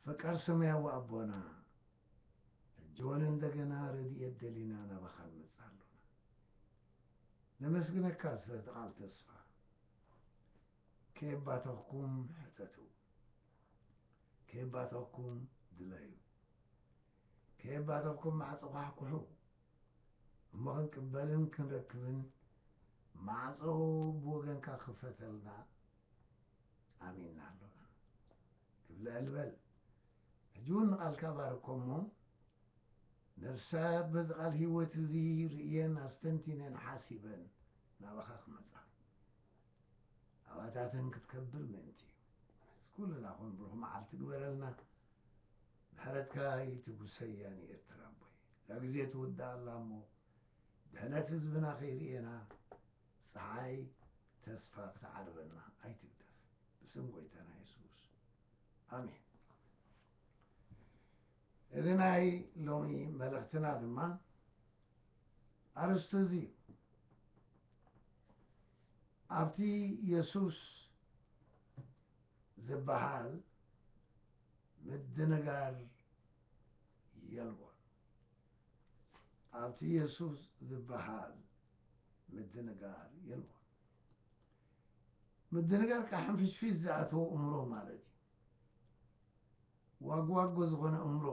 ፈቃር ሰማያዊ ኣቦና ሕጂ ወን እንደገና ረድኤት ደሊና ናባኻ ንመጽእ ኣሎና ነመስግነካ ስለቲ ቃል ተስፋ ከየባተኽኩም ሕተቱ ከየባተኽኩም ድለዩ ከየባተኽኩም ማዕጾ ኳሕኩሑ እሞ ክንቅበልን ክንረክብን ማዕጾ ብወገንካ ክፈተልና ኣሚንና ኣሎና ክብለል በል ሕጂ እውን ንቓልካ ባርኮ እሞ ነፍሳት በዚ ቓል ህይወት እዚ ርእየን ኣስተንቲነን ሓሲበን ናባኻ ክመጽኣ ኣባታተን ክትከብር ምእንቲ እዩ ምስ ኩልና ኹን ብሩኽ መዓልቲ ግበረልና ምሕረትካ ይትጉሰያ ንኤርትራ ኣቦይ እዛ ግዜ ትውዳእ ኣላ እሞ ድሕነት ህዝብና ከይርእና ጸሓይ ተስፋ ክትዓርበና ኣይትግደፍ ብስም ጎይታና የሱስ ኣሜን። እዚ ናይ ሎሚ መልእኽትና ድማ ኣርስቱ እዚ እዩ። ኣብቲ የሱስ ዝበሃል ምድንጋር የልቦን። ኣብቲ የሱስ ዝበሃል ምድንጋር የልቦን። ምድንጋር ከኣ ሕንፍሽፍሽ ዝኣተዎ እምሮ ማለት እዩ። ዋግዋጎ ዝኾነ እምሮ፣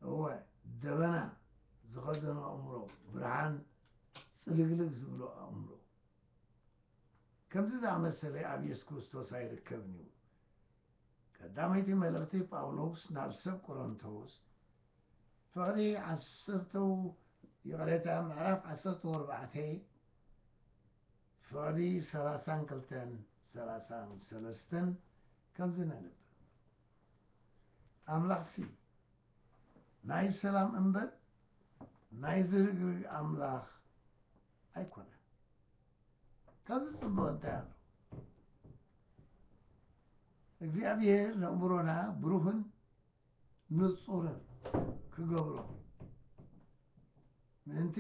እወ ደበና ዝኸደኖ ኣእምሮ፣ ብርሃን ጽልግልግ ዝብሎ ኣእምሮ። ከምዚ ዝኣመሰለ ኣብ የሱስ ክርስቶስ ኣይርከብን እዩ። ቀዳመይቲ መልእኽቲ ጳውሎስ ናብ ሰብ ቆሮንቶስ ፍቕዲ ዓሰርተው ይቕሬታ ምዕራፍ ዓሰርተው ኣርባዕተ ፍቕዲ ሰላሳን ክልተን ሰላሳን ሰለስተን ከምዚ ነንብብ ኣምላኽሲ ናይ ሰላም እምበር ናይ ዝርግርግ ኣምላኽ ኣይኮነን ካብዚ ጽቡቕ እንታይ ኣሎ እግዚኣብሔር ነእምሮና ብሩህን ንጹርን ክገብሮ ምእንቲ፣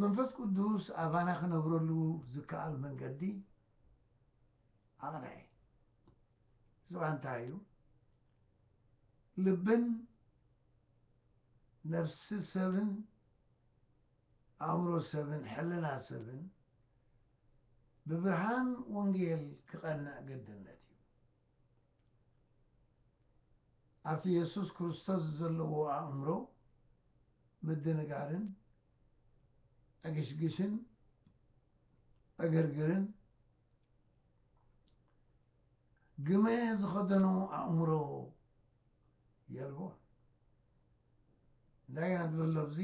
መንፈስ ቅዱስ ኣባና ክነብረሉ ዝከኣል መንገዲ ኣቕነዐ። እዚ ኸኣ እንታይ እዩ? ልብን ነፍሲ ሰብን ኣእምሮ ሰብን ሕልና ሰብን ብብርሃን ወንጌል ክቐንዕ ግድነት እዩ። ኣብቲ የሱስ ክርስቶስ ዘለዎ ኣእምሮ ምድንጋርን ዕግሽግሽን ዕግርግርን ግመ ዝኸደኖ ኣእምሮ የልቦን እንታይ ኢና ንብሎ ኣብዚ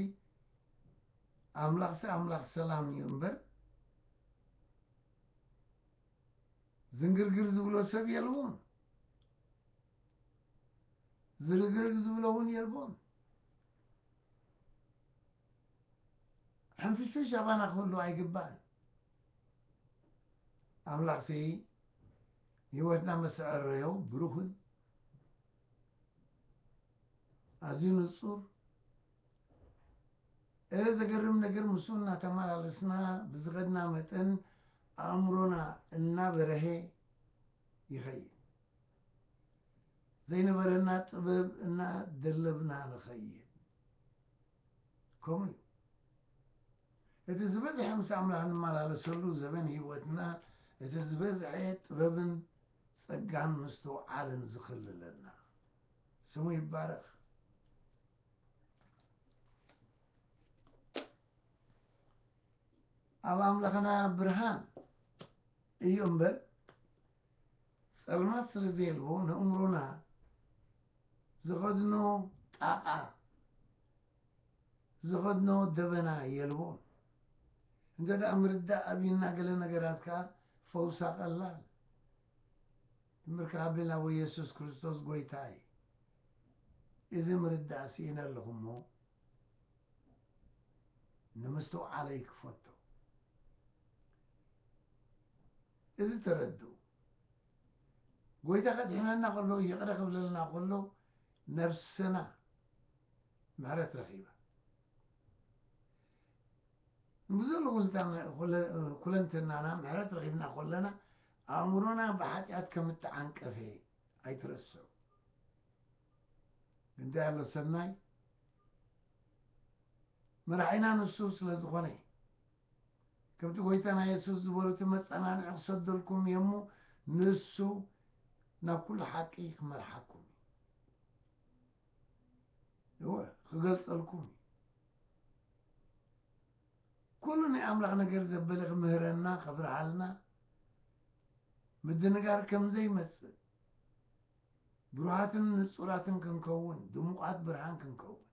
ኣምላኽሲ ኣምላኽ ሰላም እዩ እምበር ዝንግርግር ዝብሎ ሰብ የልቦን ዝርግርግ ዝብሎ እውን የልቦን ሕንፍሽፍሽ ኣባና ክህሉ ኣይግባእን ኣምላኽሲ ህይወትና መሰዐረዮ ብሩኽን ኣዝዩ ንጹር እረ ዘገርም ነገር ምስኡ እናተመላለስና ብዝኸድና መጠን ኣእምሮና እናበረሀ ይኸይድ ዘይነበረና ጥበብ እናደለብና ንኸይድ ከምኡ እዩ። እቲ ዝበዝሐ ምስ ኣምላኽ ንመላለሰሉ ዘበን ህይወትና እቲ ዝበዝሐ ጥበብን ጸጋን ምስትውዓልን ዝኽልለና ስሙ ይባረኽ። ኣብ ኣምላኽና ብርሃን እዩ እምበር ጸልማት ስለ ዘየልቦ ነእምሮና ዝኸድኖ ጣቓ ዝኸድኖ ደበና የልቦን። እንተ ደኣ ምርዳእ ኣብዩና ገለ ነገራት ከኣ ፈውሳ ቀላል ትምህርካ ኣብልና ወይ የሱስ ክርስቶስ ጎይታ እዩ። እዚ ምርዳእ ስኢነ ኣለኹሞ ንምስትውዓለይ ክፈቶ እዚ ተረድኡ ጎይታ ከድሕነና ከሎ ይቅረ ክብለልና ከሎ ነብስና ምሕረት ረኪባ ንብዙል ኩለንትናና ምሕረት ረኪብና ከለና ኣእምሮና ብሓጢኣት ከም እተዓንቀፈ ኣይትረስዑ እንታይ ኣሎ ሰናይ መራሒና ንሱ ስለ ዝኮነ ከምቲ ጎይታና የሱስ ዝበሎ እቲ መጸናንዒ ክሰደልኩም እየ እሞ ንሱ ናብ ኩሉ ሓቂ ክመርሓኩም እዩ እወ ክገልጸልኩም እዩ ኩሉ ናይ ኣምላኽ ነገር ዘበለ ክምህረና ከብርሃልና ምድንጋር ከም ዘይመጽእ ብሩሃትን ንጹራትን ክንከውን ድሙቓት ብርሃን ክንከውን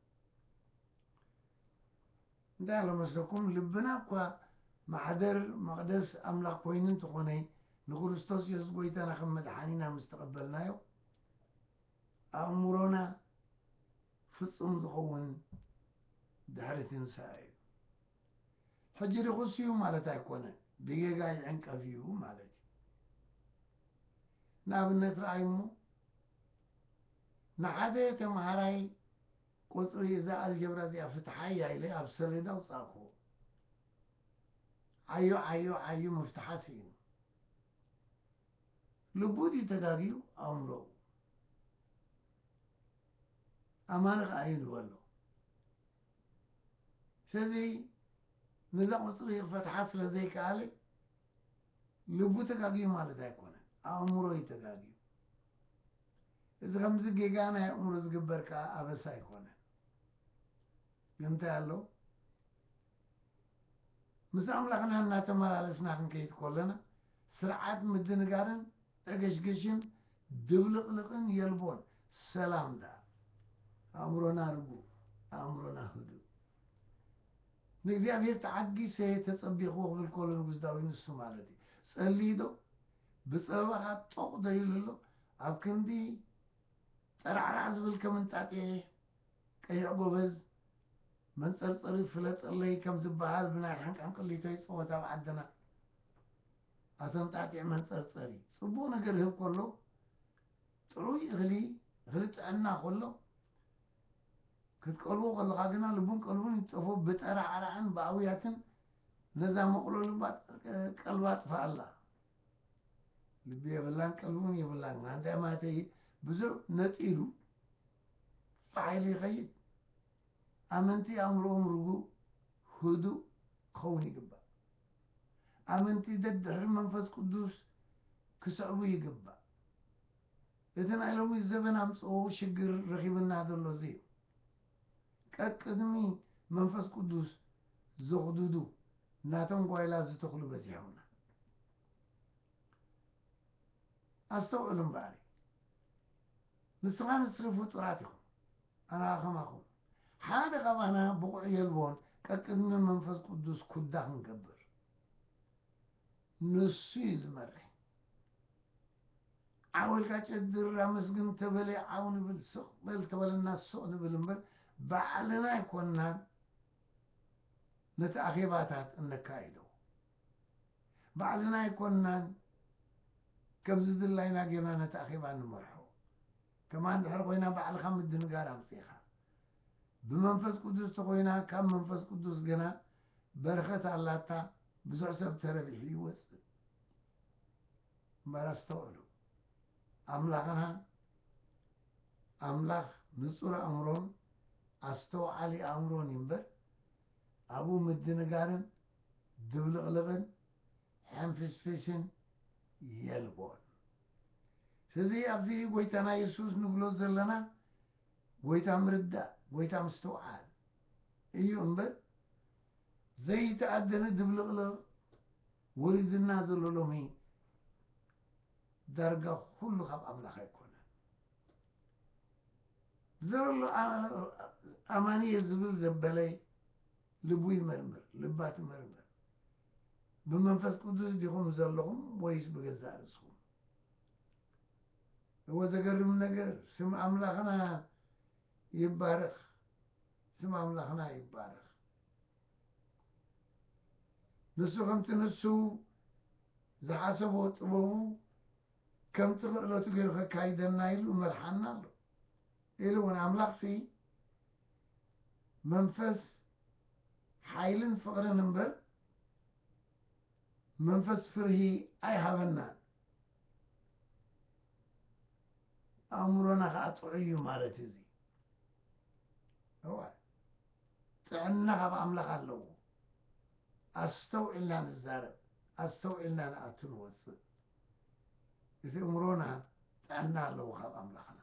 እንታይ ኣሎ መስለኩም ልብና እኳ ማሕደር መቅደስ ኣምላኽ ኮይኑ እንተኾነ ንክርስቶስ የሱስ ጎይታና ከም መድሓኒና ምስ ተቀበልናዮ ኣእምሮና ፍጹም ዝኸውን ድሕሪ ትንሳኤ እዩ። ሕጂ ርኹስ እዩ ማለት ኣይኮነን ብጌጋ ይዕንቀፍ እዩ ማለት እዩ። ንኣብነት ረኣይ እሞ ንሓደ ተምሃራይ ቁጽሪ እዛ ኣልጀብራ እዚኣ ፍትሓያ ኢለ ኣብ ሰሌዳ ኣውጻእኩዎ። ዓዩ ዓዩ ዓዩ ምፍትሓ ስኢኑ። ልቡ ድዩ ተጋግዩ ኣእምሮኡ? ኣማኒ ከኣ እዩ ንበሎ። ስለዚ ነዛ ቁጽሪ ክፈትሓ ስለ ዘይከኣለ ልቡ ተጋግዩ ማለት ኣይኮነን ኣእምሮ እዩ ተጋግዩ እዚ ከምዚ ጌጋ ናይ ኣእምሮ ዝግበር ከዓ ኣበሳ ኣይኮነን ግን እንታይ ኣሎ ምስ ኣምላኽና እናተመላለስና ክንከይድ ከለና ስርዓት ምድንጋርን ዕግሽግሽን ድብልቕልቕን የልቦን ሰላም ደኣ ኣእምሮና ርጉእ ኣእምሮና ህዱእ ንእግዚኣብሄር ተዓጊሰ ተጸቢኽዎ ክብል ከሎ ንጉስ ዳዊት ንሱ ማለት እዩ ጸልይዶ ብጸበባኻ ጦቕ ዘይልሎ ኣብ ክንዲ ጠራዕራዕ ዝብል ከም እንጣጥየ ቀይዕ ጎበዝ መንጸርጸሪ ፍለጠለይ ከም ዝበሃል ብናይ ሕንቅሕንቅሊቶይ ጸወታ ኣብ ዓድና ኣቶ እንጣጥየ መንጸርጸሪ ጽቡቕ ነገር ህብ ከሎ ጥዑይ እኽሊ እኽሊ ጥዕና ከሎ ክትቀርቦ ከለኻ ግና ልቡን ቀልቡን ይጠፎ ብጠራዕራዕን ብኣውያትን ነዛ መቕሎ ልባ ቀልባ ኣጥፍኣላ። ልቢ የብላን ቀልቢውን የብላን ግና እንታይ ማለተይ ብዙ ነጢሩ ፋሕ ኢሉ ይኸይድ። ኣመንቲ ኣእምሮኦም ርጉእ ህዱእ ክኸውን ይግባእ። ኣመንቲ ደድሕሪ መንፈስ ቅዱስ ክስዕቡ ይግባእ። እቲ ናይ ሎሚ ዘበን ኣምጽኦ ሽግር ረኪብና ዘሎ እዚ እዩ። ቀቅድሚ መንፈስ ቅዱስ ዘኩዱዱ ናቶም ጓይላ ዝተክሉ በዚሖምና። ኣስተውዕሉ እምበኣሪ ንስኻ ንስኺ ፍጡራት ኢኹም ኣና ከማኹም ሓደ ካባና ብቑዕ የልቦን ቀቅድሚ መንፈስ ቅዱስ ኩዳ ክንገብር ንሱ እዩ ዝመርሕ ዓወል ቃጨ ድር ኣመስግን ተበለ ዓው ንብል ስቅ በል ተበለና ስቅ ንብል እምበር ባዕልና ኣይኮናን ነቲ ኣኼባታት እነካይዶ ባዕልና ኣይኮናን ከም ዝድላይና ጌርና ነቲ ኣኼባ ንመርሖ ከማ እንድሕር ኮይና ባዕልኻ ምድንጋር ኣምፂኻ ብመንፈስ ቅዱስ ተኮይና ካብ መንፈስ ቅዱስ ግና በረከት ኣላታ ብዙሕ ሰብ ተረቢሑ ይወጽእ እምበር ኣስተውዕሉ ኣምላክና ኣምላክ ንጹር ኣእምሮን ኣስተውዓሊ ኣእምሮን እዩ እምበር ኣብኡ ምድንጋርን ድብልቅልቅን ሕንፍሽፍሽን የልቦን። ስለዚ ኣብዚ ጎይታና የሱስ ንብሎ ዘለና ጎይታ ምርዳእ ጎይታ ምስትውዓል እዩ እምበር ዘይተኣደነ ድብልቕልቕ ወሪድና ዘሎ ሎሚ ዳርጋ ኩሉ ካብ ኣምላኽ ኣይኮነን ብዘሎ ኣማንየ ዝብል ዘበለ ልቡ ይመርምር ልባ ትመርምር ብመንፈስ ቅዱስ ዲኹም ዘለኹም ወይስ ብገዛእ ርእስኹም እወ ዘገርም ነገር ስም ኣምላኽና ይባረኽ ስም ኣምላኽና ይባረኽ ንሱ ከምቲ ንሱ ዝሓሰቦ ጥበቡ ከምቲ ክእለቱ ገይሩ ከካይደና ኢሉ መርሓና ኣሎ ኢሉ እውን ኣምላኽ ሲ መንፈስ ሓይልን ፍቕርን እምበር መንፈስ ፍርሂ ኣይሃበና ኣእምሮና ከዓ ጥዑይ እዩ ማለት እዩ እዚ እወ ጥዕና ካብ ኣምላኽ ኣለዎ ኣስተውዒልና ንዛረብ ኣስተውዒልና ንኣቱ ንወፅእ እቲ እምሮና ጥዕና ኣለዎ ካብ ኣምላኽና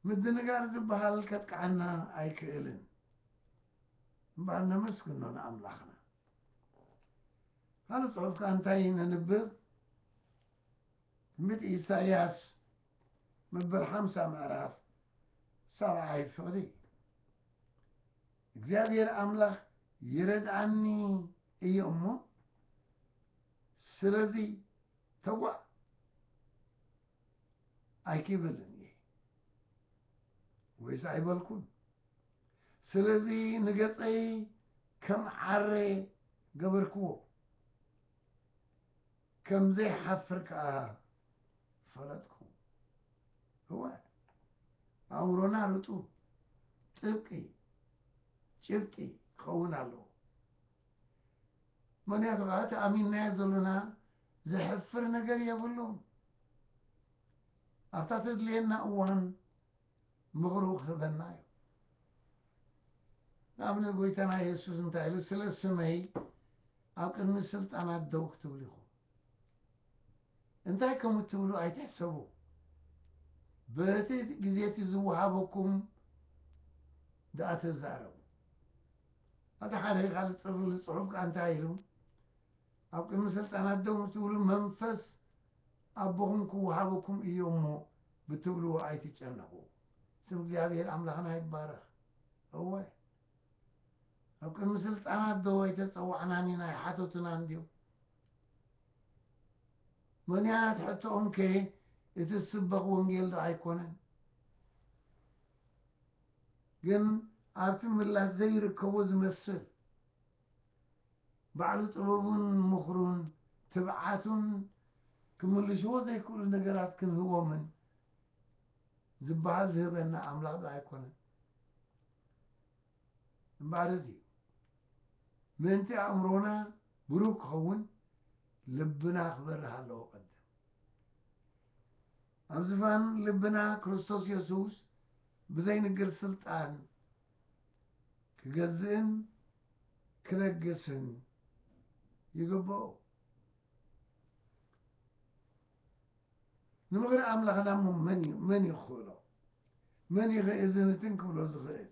ምድንጋር ዝበሃል ከጥቅዓና ኣይክእልን እምበኣር ነመስግኖ ንኣምላኽና። ካልእ ጽሑፍ ከኣ እንታይ ነንብብ? ትንቢት ኢሳይያስ መበል ሓምሳ ምዕራፍ ሰብዓይ ፍቕዲ እግዚኣብሔር ኣምላኽ ይረድኣኒ እዮ እሞ ስለዚ ተጓዕ ኣይክብልን እየ ወይስ ኣይበልኩን ስለዚ ንገጸይ ከም ዓረ ገበርክዎ፣ ከም ዘይሓፍር ከኣ ፈለጥኩ። እወ ኣእምሮና ርጡብ፣ ጥብቂ፣ ጭብጢ ክኸውን ኣለዎ። ምክንያቱ ከዓ እቲ ኣሚንናዮ ዘሎና ዘሕፍር ነገር የብሉን። ኣብታ ተድልየና እዋን ምኽሩ ክህበና እዩ። ንኣብነት ጎይታና የሱስ እንታይ ኢሉ ስለ ስመይ ኣብ ቅድሚ ስልጣናት ደው ክትብሉ ኢኹም እንታይ ከም እትብሉ ኣይትሕሰቡ በቲ ግዜ እቲ ዝወሃበኩም ደኣ ተዛረቡ ኣቲ ሓደ ካልእ ፅርብ ዝፅሑፍ ከዓ እንታይ ኢሉ ኣብ ቅድሚ ስልጣናት ደው ትብሉ መንፈስ ኣቦኹም ክወሃበኩም እዩ እሞ ብትብልዎ ኣይትጨነቁ ስም እግዚኣብሔር ኣምላክና ይባረክ እወ ኣብ ቅድሚ ስልጣናት ዶ ኣይተጸዋዕናን ኢና ይሓተቱና እንድዮም ምክንያት ሕቶኦም ከ እቲ ዝስበኽ ወንጌል ዶ ኣይኮነን ግን ኣብቲ ምላሽ ዘይርከቦ ዝመስል ባዕሉ ጥበቡን ምኽሩን ትብዓቱን ክምልሽዎ ዘይክእሉ ነገራት ክንህቦምን ዝበሃል ዝህበና ኣምላኽ ዶ ኣይኮነን? እምበኣር እዚ እዩ ምእንቲ ኣእምሮና ብሩህ ክኸውን ልብና ክበርህ ኣለዎ ቀደም ኣብ ዝፋን ልብና ክርስቶስ የሱስ ብዘይንግር ስልጣን ክገዝእን ክለግስን ይግብኦ። ንምኽሪ ኣምላኽና እሞ መን እዩ መን እዩ ክኽእሎ መን እዩ ኸእዝንትን ክብሎ ዝኽእል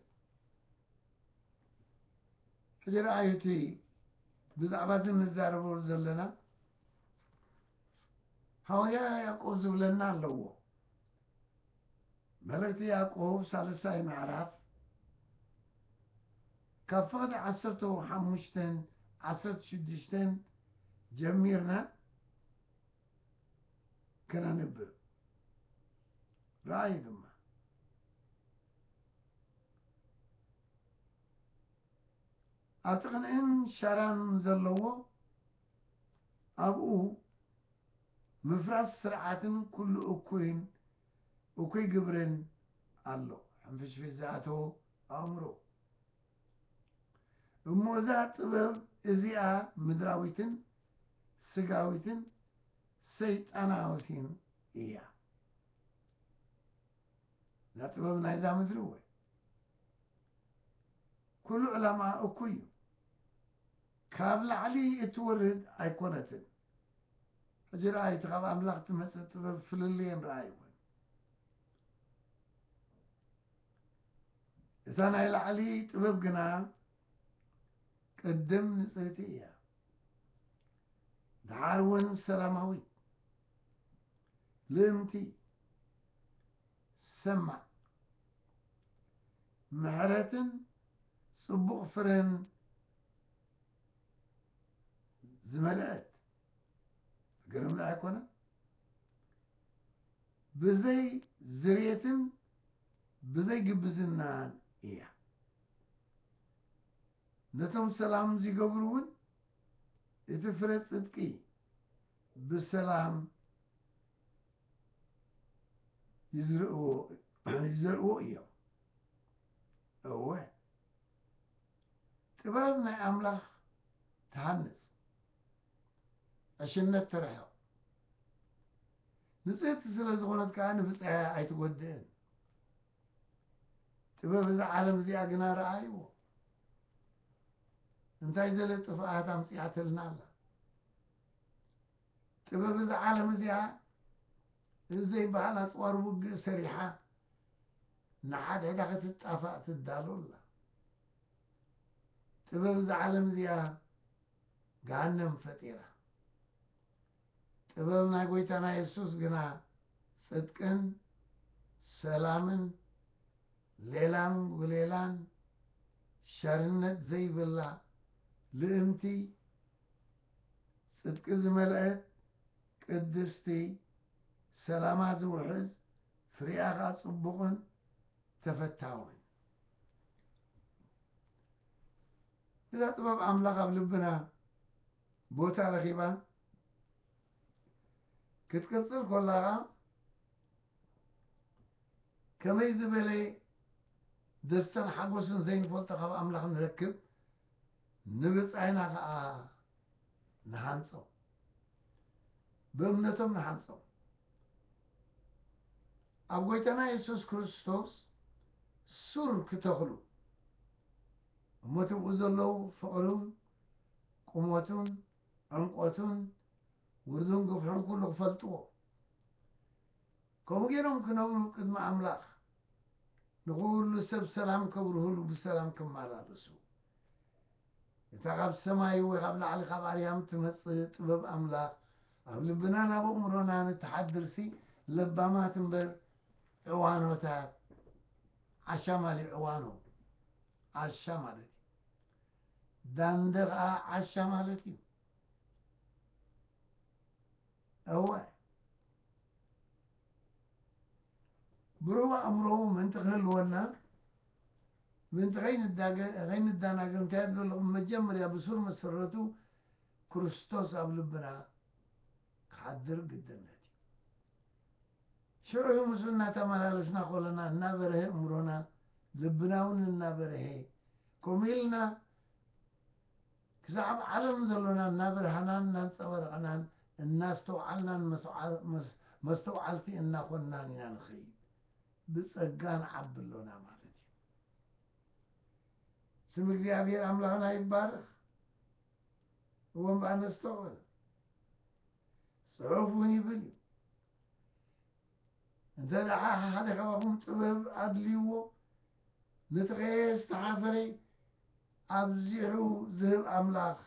ሕጂ ረኣዩ እቲ ብዛዕባ እዚ ንዛረበሉ ዘለና ሃዋርያ ያዕቆብ ዝብለና ኣለዎ መልእኽቲ ያዕቆብ ሳልሳይ ምዕራፍ ካብ ፍቕዲ ዓሰርተ ሓሙሽተን ዓሰርተ ሽዱሽተን ጀሚርና ከነንብብ ራእይ ድማ ኣብቲ ቅንእን ሸራን ዘለዎ ኣብኡ ምፍራስ ስርዓትን ኩሉ እኩይን እኩይ ግብርን ኣሎ ሕንፍሽፍሽ ዝኣተዎ ኣእምሮ እሞ እዛ ጥበብ እዚኣ ምድራዊትን ስጋዊትን ሰይጣናዊትን እያ እዛ ጥበብ ናይዛ ምድሪ እወ ኩሉ ዕላማኣ እኩይ እዩ ካብ ላዕሊ እትወርድ ኣይኮነትን ሕጂ ረኣይ እቲ ካብ ኣምላኽ እትመጽእ ጥበብ ፍልልየን ረኣይወን። እታ ናይ ላዕሊ ጥበብ ግና ቅድም ንጽህቲ እያ፣ ደሓር እውን ሰላማዊት፣ ልእምቲ፣ ሰማዕ፣ ምሕረትን ጽቡቕ ፍረን ዝበልዐት ገረምዶ ኣይኮነን? ብዘይ ዝርየትን ብዘይ ግብዝናን እያ። ነቶም ሰላም ዚገብሩ እውን እቲ ፍረ ጽድቂ ብሰላም ይዝርእዎ ይዘርእዎ እዮም። እወ ጥበብ ናይ ኣምላኽ ትሃንጽ፣ ዕሽነት ተርሕቕ፣ ንጽህቲ ስለ ዝዀነት ከኣ ንብጻያ ኣይትጐድእን። ጥበብ እዛ ዓለም እዚኣ ግና ረኣይዎ፣ እንታይ ገለ ጥፍኣት ኣምጺኣትልና ኣላ። ጥበብ እዛ ዓለም እዚኣ እዚ ዘይበሃል ኣጽዋር ውግእ ሰሪሓ ንሓድሕዳ ክትጣፋእ ትዳሎ ኣላ። ጥበብ እዛ ዓለም እዚኣ ገሃነም ፈጢራ። ጥበብ ናይ ጎይታና የሱስ ግና ጽድቅን ሰላምን ሌላን ውሌላን ሸርነት ዘይብላ ልእምቲ ጽድቂ ዝመልአት ቅድስቲ ሰላማ ዝውሕዝ ፍሪኣ ከኣ ጽቡቕን ተፈታውን እዛ ጥበብ ኣምላኽ ኣብ ልብና ቦታ ረኺባ ክትቅጽል ኮላ ከኣ ከመይ ዝበለ ደስታን ሓጎስን ዘይንፈልጦ ካብ ኣምላኽ ንረክብ ንብጻይና ከኣ ንሃንጾም፣ ብእምነቶም ንሃንጾም። ኣብ ጐይታና የሱስ ክርስቶስ ሱር ክተኽሉ እሞ ትብኡ ዘለዉ ፍቕሩን ቁመቱን ዕምቈቱን ውርዱን ግፍሑን ኩሉ ክፈልጥዎ ከምኡ ገይሮም ክነብሩ ብ ቅድሚ ኣምላኽ ንኹሉ ሰብ ሰላም ከብርሁሉ ብሰላም ክማላለሱ እታ ካብ ሰማይ ወይ ካብ ላዕሊ ካብ ኣርያም ትመጽእ ጥበብ ኣምላኽ ኣብ ልብናን ኣብ ኣእምሮናን እትሓድር ሲ ለባማት እምበር ዕዋኖታት ዓሻ ማሊ ዕዋኖ ዓሻ ማለት እዩ ዳንደ ኸኣ ዓሻ ማለት እዩ እወ፣ ብሩህ ኣእምሮ ምእንቲ ኺህልወና፣ ምእንቲ ኸይንደናገር እንታይ ኣድልዮ ኣሎ? ብመጀመርያ ብሱር መሰረቱ ክርስቶስ ኣብ ልብና ክሓድር ግድነት እዩ። ሽዑ እዩ ምስኡ እናተመላለስና ኸሎና እናበርሀ ኣእምሮና፣ ልብና እውን እናበርሀ ከምኡ ኢልና ክሳዕብ ዓለም ዘሎና እናበርሃናን እናንጸባረቕናን እናስተውዓልናን መስተውዓልቲ እናኾንናን ኢና ንኸይድ ብጸጋ ንዓቢ ኣሎና ማለት እዩ። ስም እግዚኣብሔር ኣምላኽና ይባረኽ። እወ እምበኣር ነስተውዕል። ጽሑፍ እውን ይብል እዩ እንተ ደሓ ሓደ ካባኹም ጥበብ ኣድልይዎ ንተኸየ ዝተሓፈረ ኣብዚሑ ዝህብ ኣምላኽ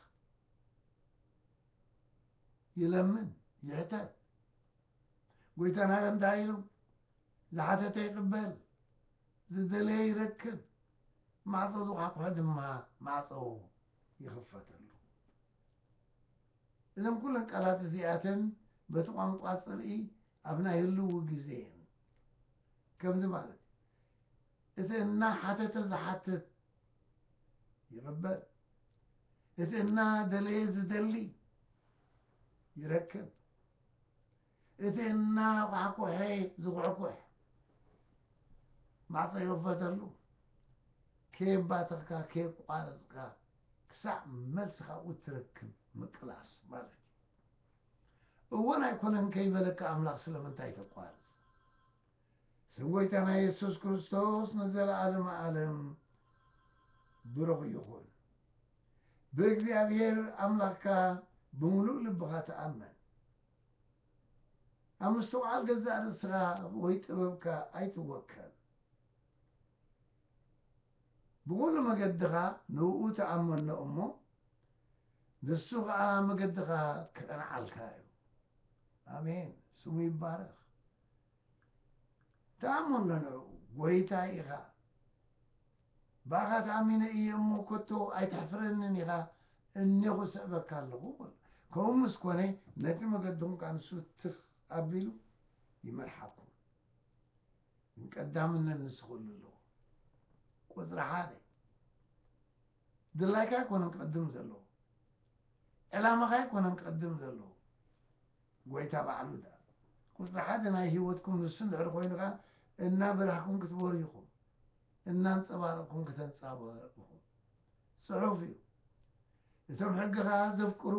ይለምን ይሕተት። ጎይታና እንታይ ኢሉ? ዝሓተተ ይቕበል፣ ዝደለየ ይረክብ፣ ማዕጾ ዝኳሕኩሐ ድማ ማዕጾ ይኽፈተሉ። እዘን ኩለን ቃላት እዚኣተን በቲ ቋንቋ ጽርኢ ኣብ ናይ ህልዊ ግዜ እየን። ከምዚ ማለት እቲ እናሓተተ ዝሓትት ይቕበል፣ እቲ እናደለየ ዝደሊ ይረክብ፣ እቲ እናኳሕኩሐ ዝኹሕኩሕ ማዕፆ ይኽፈተሉ። ከየባተኽካ ከየቋረፅካ ክሳዕ መልሲ ካብኡ እትረክብ ምቅላስ ማለት እዩ። እወን ኣይኮነን ከይበለካ ኣምላኽ ስለምንታይ ተቋርፅ? ስም ጎይታና የሱስ ክርስቶስ ንዘለዓለመ ኣለም ብሩኽ ይኹን። ብእግዚኣብሔር ኣምላኽካ ብምሉእ ልብኻ ተኣመን። ኣብ ምስትውዓል ገዛእ ርእስኻ ወይ ጥበብካ ኣይትወከል። ብኹሉ መገድኻ ንእኡ ተኣመኖ እሞ ንሱ ኸኣ መገድኻ ክቐንዓልካ እዩ። ኣሜን ስሙ ይባረኽ። ትኣምኖ ን ጎይታ ኢኻ ብኣኻ ተኣሚነ እየ እሞ ከቶ ኣይተሕፍረንን ኢኻ እኔኹ እሰእበካ ኣለኹ በሎ ከምኡ ምስ ኮነ ነቲ መገድኹም ከኣ ንሱ ትኽ ኣቢሉ ይመርሓኩም ግን ቀዳምነት ንሱ ክህሉ ኣለዎ ቁጽሪ ሓደ ድላይካ ኣይኮነን ክቕድም ዘለዎ ዕላማኻ ኣይኮነን ክቕድም ዘለዎ ጎይታ ባዕሉ ደኣ ቁጽሪ ሓደ ናይ ሂወትኩም ንሱ እንድሕር ኮይኑ ከኣ እናበራህኩም ክትበርሁ ኢኹም እናንጸባረቕኩም ክተንጻባርቑ ኢኹም ጽሑፍ እዩ እቶም ሕጊ ከኣ ዘፍቅሩ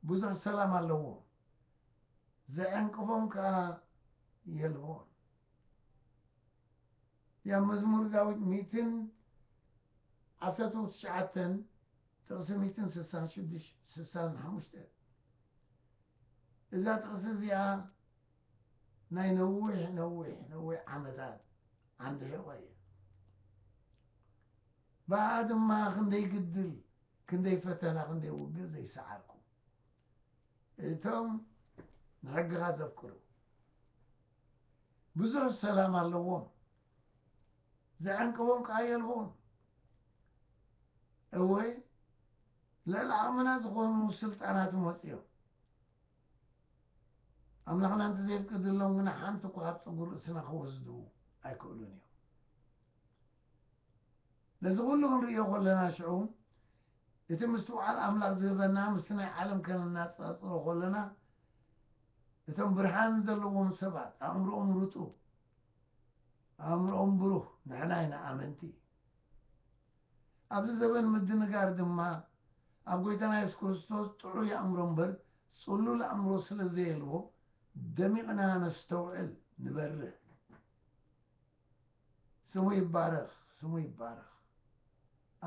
ብዙሕ ሰላም ኣለዎም ዘዕንቅፎም ከኣ የልቦን ያ መዝሙር ዳዊት ሚእትን ዓሰርተ ትሽዓተን ጥቕሲ ሚእትን ስሳን ሽዱሽ ስሳን ሓሙሽተ እዛ ጥቕሲ እዚኣ ናይ ነዊሕ ነዊሕ ነዊሕ ዓመታት ዓንዲ ሒቖ እየ ብኣ ድማ ክንደይ ግድል ክንደይ ፈተና ክንደይ ውግእ ዘይሰዓርኩ እቶም ንሕግኻ ዘፍቅሩ ብዙሕ ሰላም ኣለዎም ዘዕንቅቦም ከኣ የልቦን። እወ ልዕሊ ዓቕምና ዝኾኑ ስልጣናት መጺኦም ኣምላኽና እንተዘየፍቅድሎም ግና ሓንቲ እኳ ካብ ጸጉሪ ርእስና ክወስዱ ኣይክእሉን እዮም። ነዚ ኩሉ ክንርእዮ ከለና ሽዑ እቲ ምስትውዓል ኣምላኽ ዝህበና ምስቲ ናይ ዓለም ከነናጻጽሮ ከለና እቶም ብርሃን ዘለዎም ሰባት ኣእምሮኦም ርጡብ ኣእምሮኦም ብሩህ ንሕና ኢና ኣመንቲ። ኣብዚ ዘበን ምድንጋር ድማ ኣብ ጎይታና የሱስ ክርስቶስ ጥዑይ ኣእምሮ እምበር ጽሉል ኣእምሮ ስለ ዘየልቦ ደሚቕና ነስተውዕል ንበርህ። ስሙ ይባረኽ ስሙ ይባረኽ።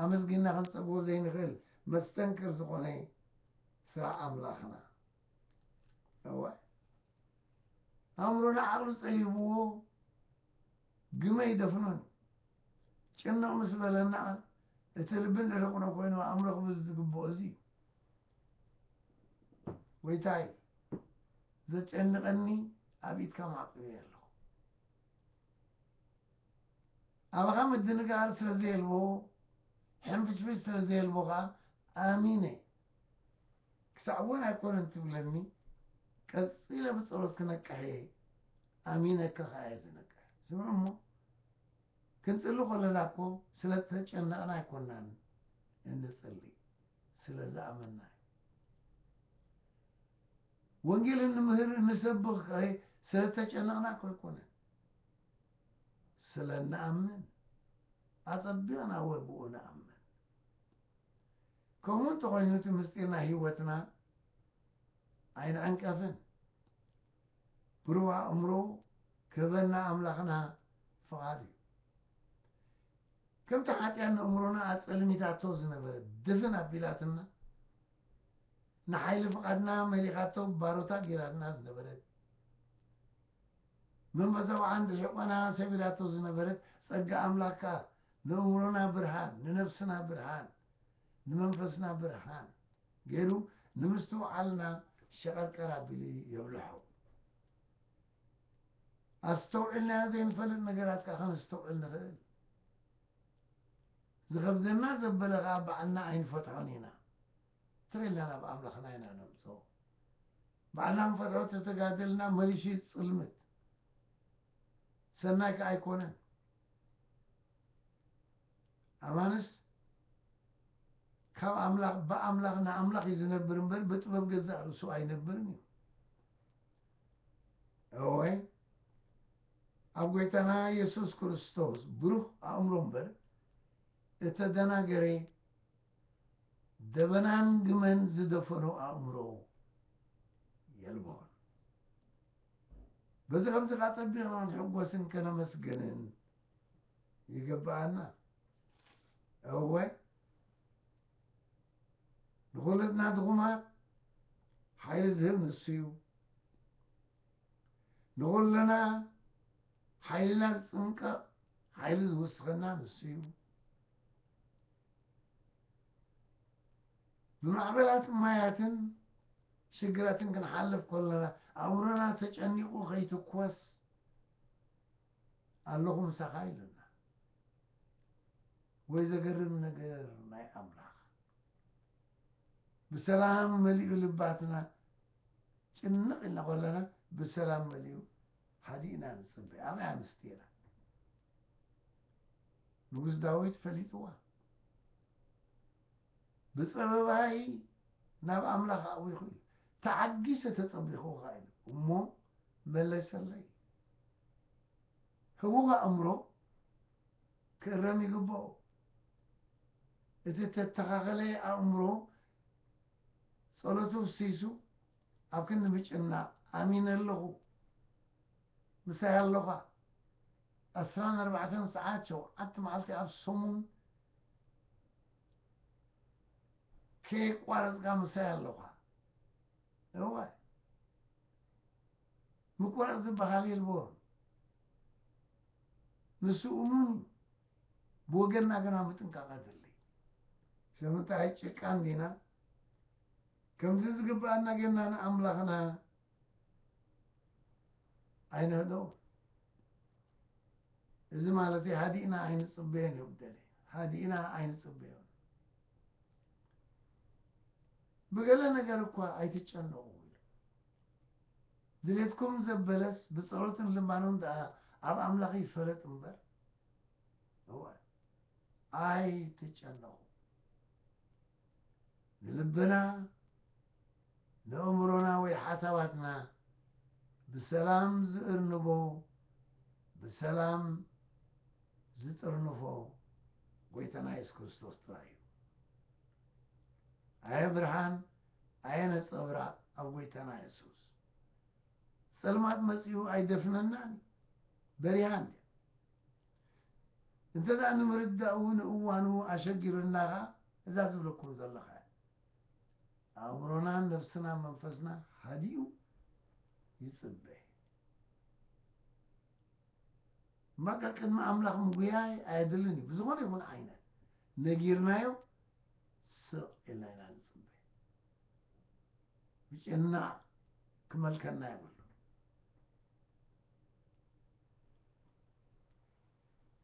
ኣመስጊንና ክንጸግቦ ዘይንኽእል መስተንክር ዝኾነ ስራሕ ኣምላኽና እወ። ኣእምሮ ንዓቕሉ ጸይብዎ ግመ ይደፍኖን ጭንቕ ምስ በለና እቲ ልቢ ንርቕኖ ኮይኑ ኣእምሮ ክብል ዝግብኦ እዚ እዩ ጎይታይ ዘጨንቐኒ ኣብ ኢድካ ማዕቂበ ኣለኹ ኣባኻ ምድንጋር ስለ ዘየልቦ ሕንፍሽፍሽ ስለ ዘየልቦ ከዓ ኣሚነ ክሳዕ እዋን ኣይኮነን ትብለኒ ቀጺለ ብጸሎት ክነቅሕ እየ ኣሚነካ ከኣ እየ ዝነቅሕ ስምዑ እሞ ክንጽሊ ከለና እኮ ስለ ተጨነቕና ኣይኮናን እንጽሊ ስለ ዝኣመና ወንጌል እንምህር እንሰብኽ ስለ ተጨነቕና እኮ ኣይኮነን ስለ ንኣምን ኣጸቢቕና ወብኡ ንኣምን ከምኡ እንተኾይኑ እቲ ምስጢር ናይ ህይወትና ኣይንዕንቀፍን። ብሩህ ኣእምሮ ክህበና ኣምላኽና ፍቓድ እዩ። ከምቲ ሓጢኣት ንእምሮና ኣጸልሚታቶ ዝነበረት ድፍን ኣቢላትና ንሓይሊ ፍቓድና መሊኻቶ ባሮታ ጌራትና ዝነበረት፣ መመዘብዓን ብሒቆና ሰብ ኢላቶ ዝነበረት ጸጋ ኣምላኽ ከኣ ንእምሮና ብርሃን ንነብስና ብርሃን ንመንፈስና ብርሃን ገይሩ ንምስትውዓልና ሸቀርቀር ኣቢሉ የብልሖ። ኣስተውዒልናዮ ዘይንፈልጥ ነገራት ከኣ ከነስተውዕል ንኽእል። ዝኸብደና ዘበለ ከኣ ባዕልና ኣይንፈትሖን ኢና። ትሬላ ናብ ኣምላኽና ኢና ነምጽኦ ባዕልና ንፈትሖ ተተጋደልና መሪሽት ጽልምት ሰናይ ከኣ ኣይኮነን ኣማንስ ካብ ኣምላኽ ብኣምላኽ ንኣምላኽ እዩ ዝነብር እምበር ብጥበብ ገዛእ ርእሱ ኣይነብርን እዩ እወ ኣብ ጎይታና የሱስ ክርስቶስ ብሩህ ኣእምሮ እምበር እተደናገረ ደበናን ግመን ዝደፈኖ ኣእምሮ የልቦን። በዚ ከምዚ ከኣ ጸቢቕና ንሕጎስን ከነመስግንን ይግብኣና። እወ ንኹልና ድኹማት ሓይሊ ዝህብ ንሱ እዩ። ንኹልና ሓይልና ዝጽንቀቕ ሓይሊ ዝውስኸና ንሱ እዩ። ብማዕበላትን ማያትን ሽግራትን ክንሓልፍ ከሎና ኣእምሮና ተጨኒቑ ከይትኮስ ኣለኹ ምሳኻ ኢሉና። ወይ ዘገርም ነገር ናይ ኣምላኽ ብሰላም መሊኡ ልባትና ጭንቕ ኢልና ከለና ብሰላም መሊኡ ሃዲእና ንጽበ ኣበይ ኣንስቲ ኢና ንጉስ ዳዊት ፈሊጥዋ ብጸበባይ ናብ ኣምላኽ ኣእዊኹ እዩ ተዓጊሰ ተጸቢኹኻ ኢሉ እሞ መለሰለይ ህቡብ ኣእምሮ ክእረም ይግባኦ እቲ ተተኻኸለ ኣእምሮ ጸሎቱ ፍሲሱ ኣብ ክንዲ ምጭናቕ ኣሚነ ኣለኹ ምሳይ ኣሎኻ ዕስራን ኣርባዕተን ሰዓት ሸውዓተ መዓልቲ ኣብ ሰሙን ከየቋረጽካ ምሳይ ኣሎኻ እወ ምቁራጽ ዝበሃል የልቦን ንሱ እሙን እዩ ብወገንና ግና ምጥንቃቕ ኣድሊ ስለምንታይ ጭቃን ዲና ከምዚ ዝግብኣና ጌርና ንኣምላኽና ኣይንህደዎን። እዚ ማለት ሃዲእና ኣይንጽበዮን እዩ ደለ ሃዲእና ኣይንጽበዮን። ብገለ ነገር እኳ ኣይትጨነቑ ኢሉ ድሌትኩም ዘበለስ ብጸሎትን ልማኖን ደኣ ኣብ ኣምላኽ ይፈለጥ እምበር እወ ኣይትጨነቑ ንልብና፣ ንእምሮና ወይ ሓሳባትና ብሰላም ዝእርንቦ፣ ብሰላም ዝጥርንፎ ጎይታና የሱስ ክርስቶስ ጥራይ እዩ። ኣየ ብርሃን፣ ኣየ ነጸብራቕ ኣብ ጎይታና የሱስ ጸልማት መጺኡ ኣይደፍነናን እዩ። በሪሃ እንድያ። እንተ ንምርዳኡ ንእዋኑ ኣሸጊሩና ከኣ እዛ ዝብለኩም ዘለኹ እያ። ኣእምሮናን ነፍስናን መንፈስና ሃዲኡ ይጽበ እምበኣከ ቅድሚ ኣምላኽ ምጉያይ ኣየድልን እዩ። ብዝኾነ ይኹን ዓይነት ነጊርናዮ ስቕ ኢልና ኢና ንጽበ ብጭና ክመልከና የብሉ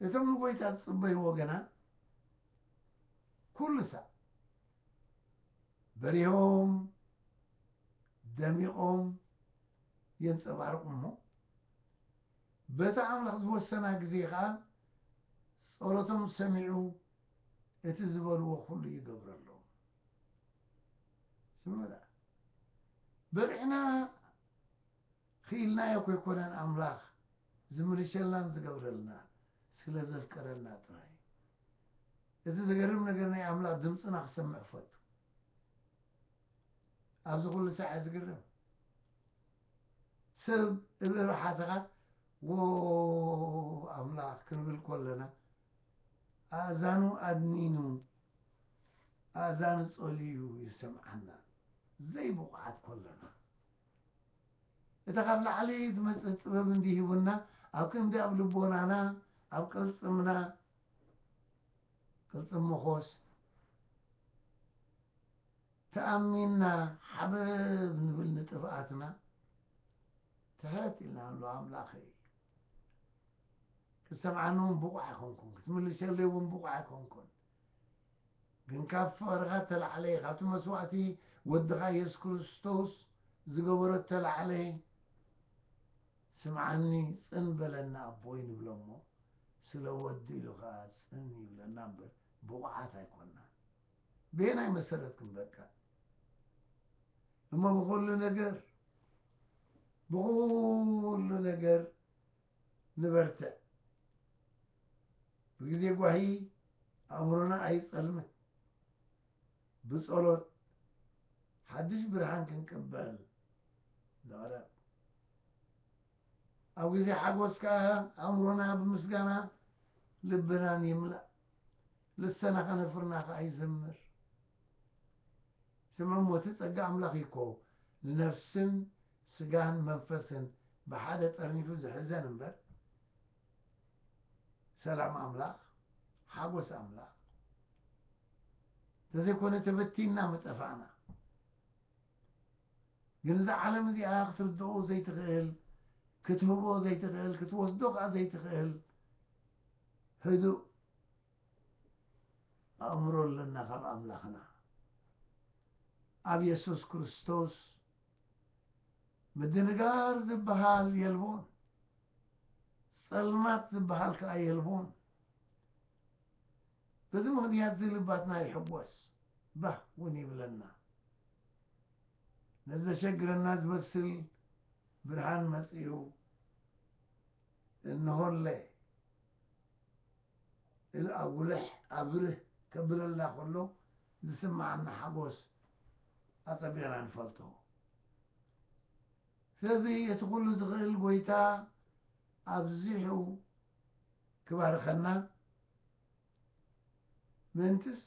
እቶም ንጐይታ ዝጽበይዎ ግና ኵሉ ሳዕ በሪሆም ደሚቖም የንጸባርቑ እሞ፣ በታ ኣምላኽ ዝወሰና ግዜ ኸኣ ጸሎቶም ሰሚዑ እቲ ዝበልዎ ዅሉ ይገብረሎም። ስምዑ ደኣ፣ በሪሕና ኪኢልናዮ ከይኮነን ኣምላኽ ዝምልሸልናን ዝገብረልና ስለ ዘፍቀረና ጥራይ እዩ። እቲ ዘገርም ነገር ናይ ኣምላኽ ድምጽና ክሰምዕ ክፈቱ ኣብዚ ኩሉ ሳዕ ዝግርም ሰብ እብ እብ ሓሰኻስ ዎ ኣምላኽ ክንብል ኮለና ኣእዛኑ ኣድኒኑ ኣእዛኑ ጸልዩ ይሰምዓና ዘይብቑዓት ኮለና እታ ካብ ላዕሊ ዝመጽት ጥበብ እንዲ ሂቡና ኣብ ክንዲ ኣብ ልቦናና ኣብ ቅልጽምና ቅልጽም መኾስ ተኣሚንና ሓበብ ንብል ንጥፍኣትና ትሕት ኢልና ንብሎ ኣምላኸይ ክትሰምዓኒ እውን ብቑዕ ኣይኮንኩን ክትምልሰለይ እውን ብቑዕ ኣይኮንኩን ግን ካብ ፍቅርካ ተላዕለ ካብቲ መስዋእቲ ወድካ የሱስ ክርስቶስ ዝገበሮ ተላዕለ ስምዓኒ ጽን በለና ኣቦይ ንብሎ እሞ ስለ ወዱ ኢሉ ከኣ ጽን ይብለና እምበር ብቁዓት ኣይኮናን በየናይ መሰረት ክንበቅዕ እሞ ብኩሉ ነገር ብኩሉ ነገር ንበርትዕ ብግዜ ጓሂ ኣእምሮና ኣይጸልምን ብጸሎት ሓድሽ ብርሃን ክንቅበል ንቕረብ ኣብ ግዜ ሓጎስ ከኣ ኣእምሮና ብምስጋና ልብናን ይምላእ ልሰና ከነፍርና ከኣ ይዘምር ስምዕሞ እቲ ጸጋ ኣምላኽ ይኮ ንነፍስን ስጋን መንፈስን ብሓደ ጠርኒፉ ዝሕዘን እምበር ሰላም ኣምላኽ ሓጎስ ኣምላኽ እንተዘይኮነ ተበቲንና ምጠፋእና ግን እዛ ዓለም እዚኣ ክትርድኦ ዘይትኽእል ክትህቦ ዘይትኽእል ክትወስዶ ከዓ ዘይትኽእል ህዱእ ኣእምሮ ኣለና ካብ ኣምላኽና ኣብ የሱስ ክርስቶስ ምድንጋር ዝበሃል የልቦን፣ ጸልማት ዝበሃል ከኣ የልቦን። በዚ ምኽንያት እዚ ልባትና ይሕጎስ ባህ እውን ይብለና። ነዚ ዘሸግረና ዝመስል ብርሃን መጺኡ እንሆለ ኢሉ ኣጉልሕ ኣብርህ ከብለልና ከሎ ዝስመዓና ሓጎስ ኣጸቢቕና ንፈልጦ። ስለዚ እቲ ኩሉ ዝኽእል ጎይታ ኣብዚሑ ክባርኸና ምእንትስ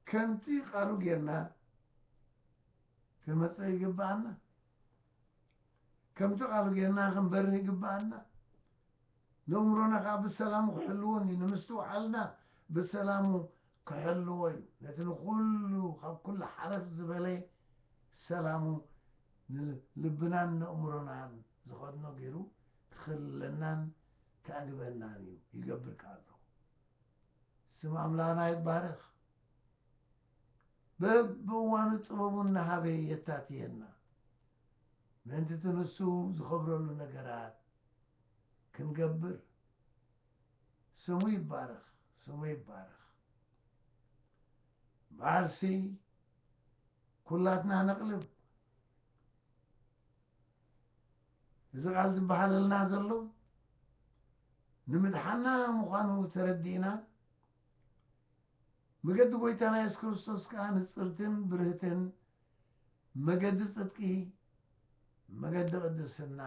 ከምቲ ቃሉ ጌርና ክንመጽእ ይግብኣና። ከምቲ ቃሉ ጌርና ክንበርህ ይግብኣና። ነእምሮና ከኣ ብሰላሙ ክሕልዎን እዩ፣ ንምስትውዓልና ብሰላሙ ክሕልዎ እዩ፣ ነቲ ንኹሉ ካብ ኩሉ ሓረፍ ዝበለ ሰላሙ ንልብናን ነእምሮናን ዝኸድኖ ገይሩ ክኽልለናን ከዕግበናን እዩ፣ ይገብር ከኣ ኣሎ። ስም ኣምላኽና ይባረኽ፣ በብእዋኑ ጥበቡ እናሃበ የታትየና፣ ምእንቲ እቲ ንሱ ዝኸብረሉ ነገራት ክንገብር ስሙ ይባረኽ ስሙ ይባረኽ ብዓርሲ ኩላትና ነቕልብ እዚ ቃል ዝበሃለልና ዘሎ ንምድሓና ምዃኑ ተረዲእና መገዲ ጎይታና የሱስ ክርስቶስ ከዓ ንፅርትን ብርህትን መገዲ ጽድቂ፣ መገዲ ቅድስና፣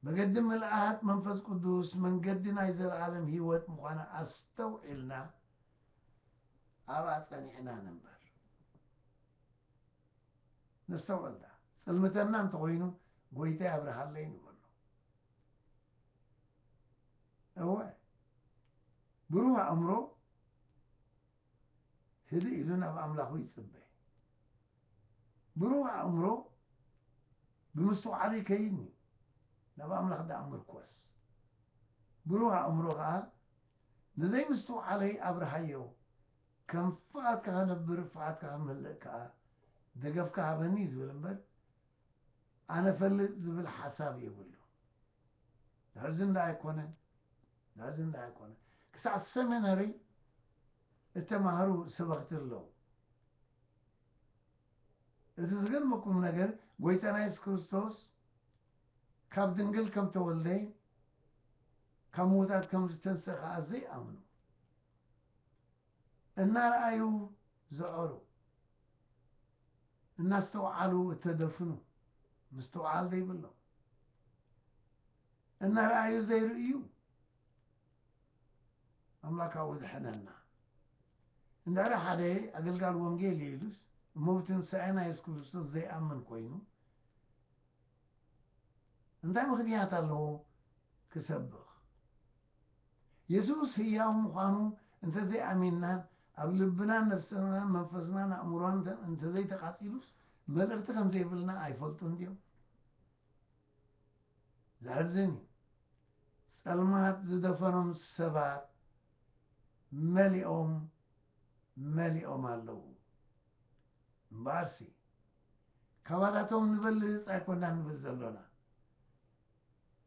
መገዲ ምልኣት መንፈስ ቅዱስ፣ መንገዲ ናይ ዘለኣለም ህይወት ምዃና ኣስተውዒልና ኣብኣ ጸኒዕና ንንበር። ነስተውዕል ደኣ። ጽልምተና እንተ ኾይኑ ጎይታይ ኣብርሃለይ ንበሎ። እወ ብሩህ ኣእምሮ ህድእ ኢሉ ናብ ኣምላኹ ይጽበ። ብሩህ ኣእምሮ ብምስትውዓሉ ይከይን እዩ፣ ናብ ኣምላኽ ደኣ ምርኰስ። ብሩህ ኣእምሮ ከኣ ንዘይምስትውዓለይ ኣብርሃዮ፣ ከም ፍቓድካ ክነብር ፍቓድካ ክምህልእ ከኣ ደገፍካ ሃበኒ እዩ ዝብል እምበር ኣነ እፈልጥ ዝብል ሓሳብ የብሉን። ዘሕዝን ዶ ኣይኮነን? ዘሕዝን ዶ ኣይኮነን? ክሳዕ ሰሚነሪ እተማህሩ ሰበኽቲ ኣለዉ። እቲ ዝገርመኩም ነገር ጎይታና የሱስ ክርስቶስ ካብ ድንግል ከም ተወልደ ካብ ምዉታት ከም ዝተንስእ ከኣ ዘይኣምኑ እናረኣዩ ዘዐሩ፣ እናስተውዓሉ እተደፍኑ፣ ምስትውዓል ዘይብሎም፣ እናረኣዩ ዘይርእዩ፣ ኣምላክ ካብኡ ድሐነና። እንድሕሪ ሓደ ኣገልጋሊ ወንጌል ኢየ ኢሉስ እሞ ብትንሳኤ ናይ የሱስ ክርስቶስ ዘይኣምን ኮይኑ፣ እንታይ ምኽንያት ኣለዎ ክሰብኽ? የሱስ ህያው ምዃኑ እንተ ዘይኣሚንናን ኣብ ልብናን ነፍስናን መንፈስናን ኣእምሮናን እንተ ዘይተቓጺሉስ መልእኽቲ ከም ዘይብልና ኣይፈልጡን ድዮም? ዘሕዝን እዩ። ጸልማት ዝደፈኖም ሰባት መሊኦም መሊኦም ኣለዉ። እምበኣርሲ፣ ካባላቶም ንበልፅ ኣይኮናን ንብል ዘሎና።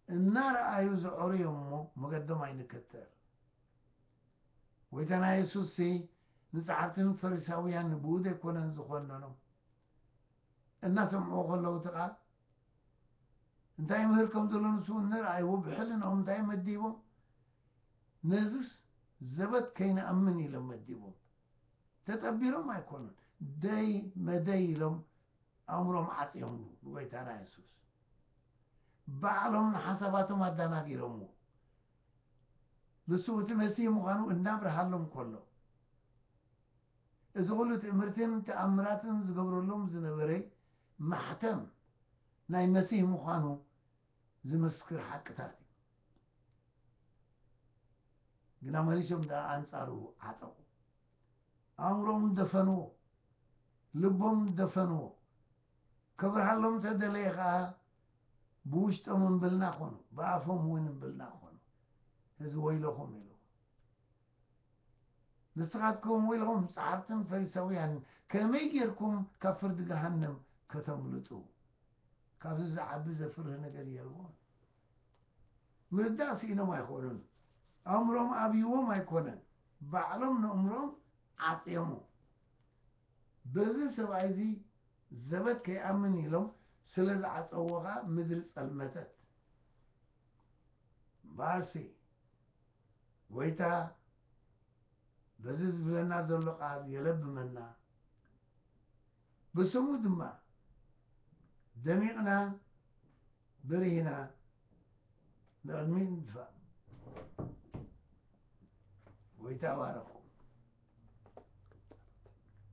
እናረኣዩ ዘዕሩ እዮም እሞ መገዶም ኣይንከተል። ጐይታና የሱስሲ ንጸሓፍትን ፈሪሳውያን ብኡድ ኣይኮነን ዝዀነኖም። እናሰምዕዎ ከለዉ እቲ ቃል እንታይ ይምህር ከም ዘሎ ንሱ እንረኣይዎ ብሕልናኦም እንታይ መዲቦም ነዝስ ዘበት ከይንኣምን ኢሎም መዲቦም። ተጠቢሮም ኣይኮኑን ደይ መደይ ኢሎም ኣእምሮም ዓጽዮምሉ ንጎይታና የሱስ ባዕሎም ንሓሳባቶም ኣዳናጊሮምዎ ንሱ እቲ መሲህ ምዃኑ እናብርሃሎም ከሎ እዚ ኩሉ ትእምርትን ተኣምራትን ዝገብረሎም ዝነበረ ማሕተም ናይ መሲህ ምዃኑ ዝምስክር ሓቅታት እዩ። ግና መሊሶም ድኣ ኣንጻሩ ዓጠቑ። ኣእምሮኦም ደፈንዎ። ልቦም ደፈንዎ። ከብርሃሎም እንተ ደለየ ከኣ ብውሽጦም እምብልና ኮኑ፣ ብኣፎም እውን እምብልና ኮኑ። እዚ ወይለኹም ኢሉ። ንስኻትኩም ወይ ኹም ጸሓፍትን ፈሪሰውያንን ከመይ ጌርኩም ካብ ፍርዲ ገሃነም ከተምልጡ? ካብዚ ዝዓቢ ዘፍርህ ነገር የልቦን። ምርዳእ ስኢኖም ኣይኮኑን፣ ኣእምሮኦም ኣብዩዎም ኣይኮነን፣ ባዕሎም ነእምሮኦም ዓጽዮሞ። በዚ ሰብኣይ እዚ ዘበት ከይኣምን ኢሎም ስለ ዝዓጸዉዎ ከኣ ምድሪ ጸልመተት። እምበኣርሲ ጐይታ በዚ ዝብለና ዘሎ ቓል የለብመና፣ ብስሙ ድማ ደሚቕና በሪህና ንቕድሚት ንድፋእ። ጐይታ ባረኹም።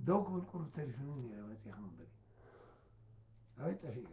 ደው ክብል ቁሩብ ተሪፉኒ ነይረ መጺእኩም በሊ ኣበይ ጠፊእካ